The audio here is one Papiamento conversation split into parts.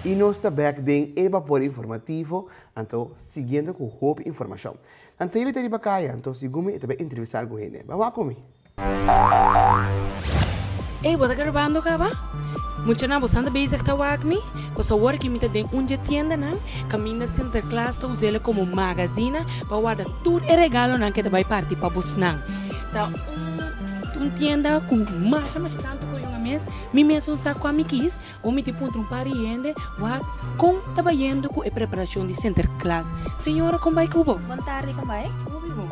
Y nos ta bek den e bapor informativo, anto siguiendo cu hopi informacion. Nan Taylor ta riba caya, anto segun mi e ta bay entrevista algun hende. Bam wak cu mi. Ey, bo ta grabando caba? Muchanan, boso anda bezig ta wak mi? Pues awor aki mi ta den un dje tiendanan, caminda Sinterklaas ta us'ele como magazina pa warda tur e regalonan cu e ta bay parti pa bosnan. Ta un tienda cu masha masha tanto coyon a mes. Mi mesun sa kua mi kis, bo miti puntra un par di hende, Wak, kon ta bayendo ku e preparashon di Sinterklas? Señora kon bai ku bo? Bon tardi kon bai ku mi bo?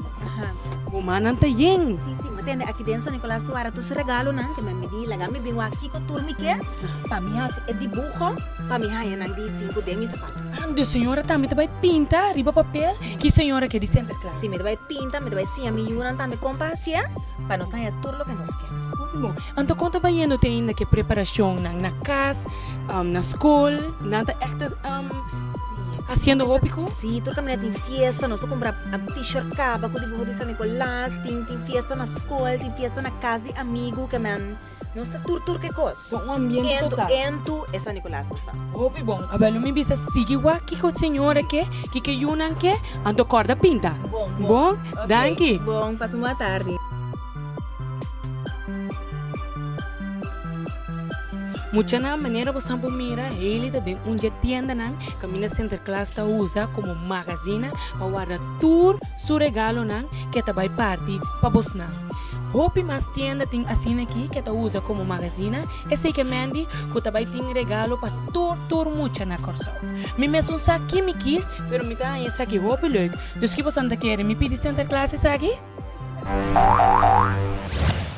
Bo mannan ta yen? Si, si, bo tende aki den San Nikolas su wara tur su regalonan ke mi a midí, laga mi bin wak kiko tur mi ke pa mi hasi e dibuho pa mi haña nan di sinku den mi sapatu. Ah, dus señora tambe ta bai pinta riba papel ki señora ke di Sinterklas? Si, mi ta bai pinta, mi ta bai siña mi yunan tambe kon pa hasié pa nos haña tur loke nos ke. Ku mi bo? Anto kon ta bayendo te ainda ke preparashonnan na kas, na skol, nan ta èk ta hasiendo hopi ku? Sí, tur kaminda tin fiesta, nos a kumpra t-shirt kaba ku dibuho di San Nikolas, tin tin fiesta na skol, tin fiesta na kas di amigu ke nan nos ta tur tur ke kos. Bo un ambiente total. Entu entu e San Nikolas nos ta. Hopi bon. A ber lo mi bisa sigui wak kiko señora ke, kiko yunan ke, anto kòrda pinta. Bon, bon. Bon? Danki. Bon, pasa un boa tardi. Muchanan manera bosan por mira Hailey ta den un dje tiendanan kaminda Sinterklaas ta usa komo magazina pa warda tur su regalonan ke ta bai parti pa bosnan. Hopi mas tienda tin asina aki ke ta usa komo magazina, esei ke Mandy ku ta bai tin regalo pa tur tur mucha na Kòrsou. Mi mesun sa ki mi kis pero mi ta haña esaki hopi leuk, dus ki bosan ta kere mi pidi Sinterklaas esaki?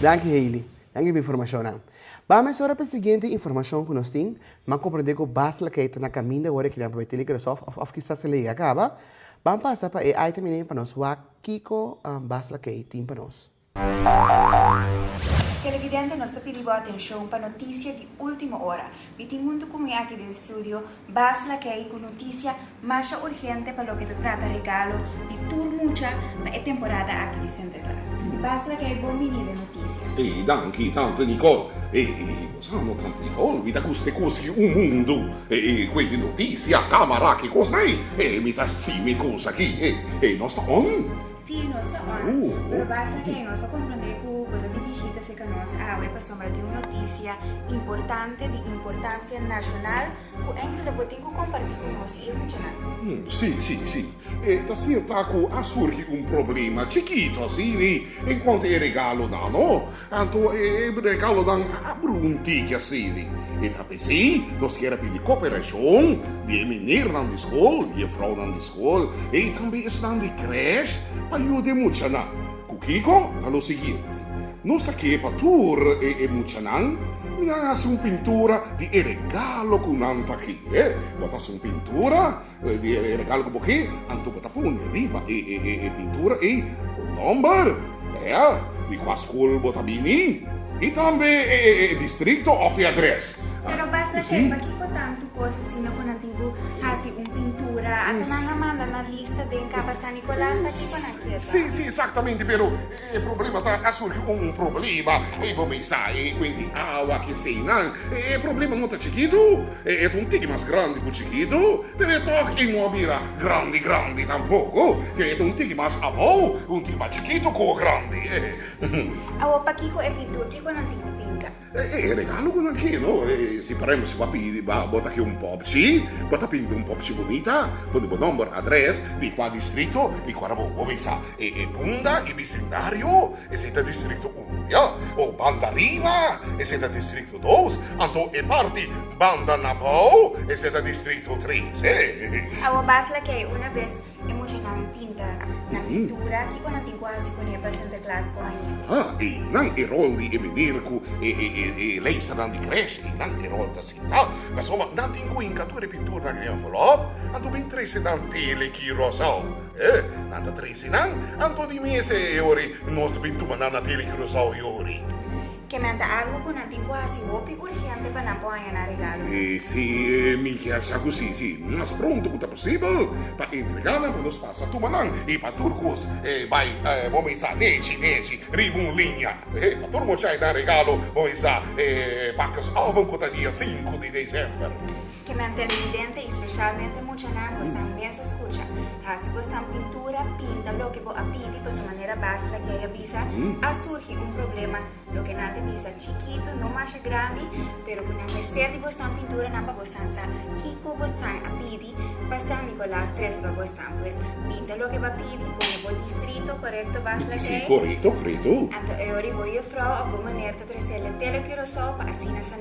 Danki Hailey. Danki pa e informashonnan. Bam mesora pa e siguiente informashon ku nos tin. M'an komprendé ku bas laga e ta na kaminda wòrdu e kilian papia Tilly Kresov òf kisas e lei a kaba. Bam pasa pa e item ini pa nos wak kiko bas laga ei tin pa nos. Televidente, nos ta pidi bo atenshon pa notisia di último ora. Y tin huntu cu mi aki den studio Bas Lakey cu noticia masha urgente pa loke ta trata regalo di tur mucha pa e temporada aki di Sinterklaas. Bas Lakey bon bini den noticia. Ey danki tante Nicole. Ey bo sa no tante Nicole, mi ta guste cuski un mundo cu ey noticia, camera, ki cos na ey. Ey mi ta scribi cos aki. Ey nos ta on. Sí, nos ta ora, pero basta kei nos a komprondé ku bo ta di bishita serka nos awe pasobra tin un notisia importante di importansia nashonal ku enkel ta por tin ku kompartí ku nos i e muchanan. Sí, sí, sí. E ta sierta ku a surgi un problema chikito asina en kuantu e regalonan, no? Anto e bregalonan a brunti ki asedi, E ta p'esei nos kier a pidi koperashon di e minernan di skol, jefrounan di skol ei tambe esnan di krèsh pa yuda e muchanan? Ku kiko? Ta lo siguiente, Nos ta ke pa tur e e muchanan mi a hasi un pintura di e regalo ku nan ta kere, bo ta hasi un pintura? Di e regalo ku bo ke, anto bo ta pone riba e e pintura ei bo nòmber, ea, di kua skol bo ta bini i tambe e e distrikto òf e adrès. Pero Basra Kèk, pakiko tantu kos asina ku nan tin ku hasi un pintura? Ata nan a manda nan lista den kaba San Nikolas aki pa nan keda. Si, si, esaktamente, pero. E problema ta a surgi un problema y bo bisa e cuenti awa ki esey nan. E problema no ta chikitu, e ta un tiki mas grandi cu chikitu, pero e tok e no a bira grandi grandi tampoco, e ta un tiki mas abou, un tiki mas chikitu cu grandi. Awa pakico e pintur kico nan tin cu pinta? E regalo ku nan ke no? Si por ehempel si bo a pidi ba bo ta ke un popchi, bo ta pinta un popchi bunita, pone bo nòmber, adrès, di kua distrito i kua bo bo bisa e punda i bisindario, esei ta distrito uno ya. O banda riba esei ta distrito dos, anto e parti banda na bou esei ta distrito tres. Awor bas lakei una bes. E muchanan pinta nan pintura. Kiko nan tin ku hasi kuné pa Sinterklaas por haña? Ha, i nan e rol di e miner ku e e leisanan di krèsh, i nan e rol ta sinta. Pasobra ma nan tin ku hinka tur e pinturnan den e envelòp, anto bin trese nan tele ki rosou. E, nan ta trese nan, anto di mes e ori nos ta bin tuma nan na tele ki rosou e ori. Ke nan ta algu ku nan tin ku hasi hopi urgente pa nan por haña nan regalo? E si e minjer sa ku si, si mas pronto ku ta posibel pa entrega nan pa nos pasa tuma nan i pa tur kos e bai bo bisa nechi nechi riba un liña. E pa tur muchai nan regalo bo bisa e pakes oven ku ta dia sinku di desèmber. Kimen televidente y specialmente muchanan cu estan mester scucha. Haci cu estan pintura, pinta loke bo a pidi pa su manera base la kiaya bisa a surgi un problema loke nan ta bisa chikito, no masha grandi, pero cu nan mester di bo estan pintura nan pa bo san sa kico bo estan a pidi pa San Nicolas tres di pa bo estan. Pues pinta loke bo a pidi, pone bo distrito corecto base la kiaya. Anto e ora y bo jufrouw of bo meneer ta tracer le tele Curacao pa asina San.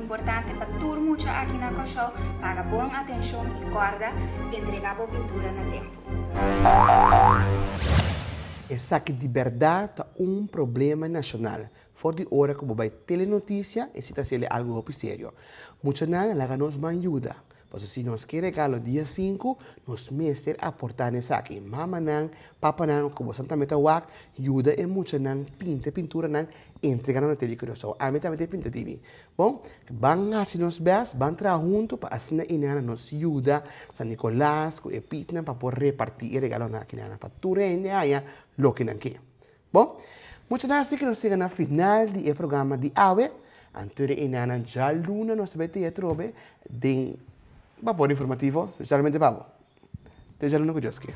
Importante pa tur mucha aki na Kòrsou paga bon atenshon i kòrda entregá bo pintura na tempu. Esaki di bèrda ta un problema nashonal. For di ora ku bo bai telenoticia, e si ta seli algu hopi serio. Muchanan, laga nos man yuda. Pasobra si nos ke regalo dia sinku, nos mester aportá na esaki. Mamanan, papanan, ku boso tambe ta wak, yuda e muchanan pinta e pinturanan, entregá nan na TV ku nos a wak. Ami tambe tin e pinta TV. Bon, ban hasi nos bèst, ban traha huntu pa asina i nana nos yuda San Nikolas ku e pitnan pa por repartí e regalonan akí nana pa tur hende haña loke nan ke. Bo, mucha nan a sigue nos yega na final di e programa di awe. Anto di enanan djaluna nos ta bai tia atrobe den Bapor Informativo, specialmente pa bo. Te djaluna cu Dios kier.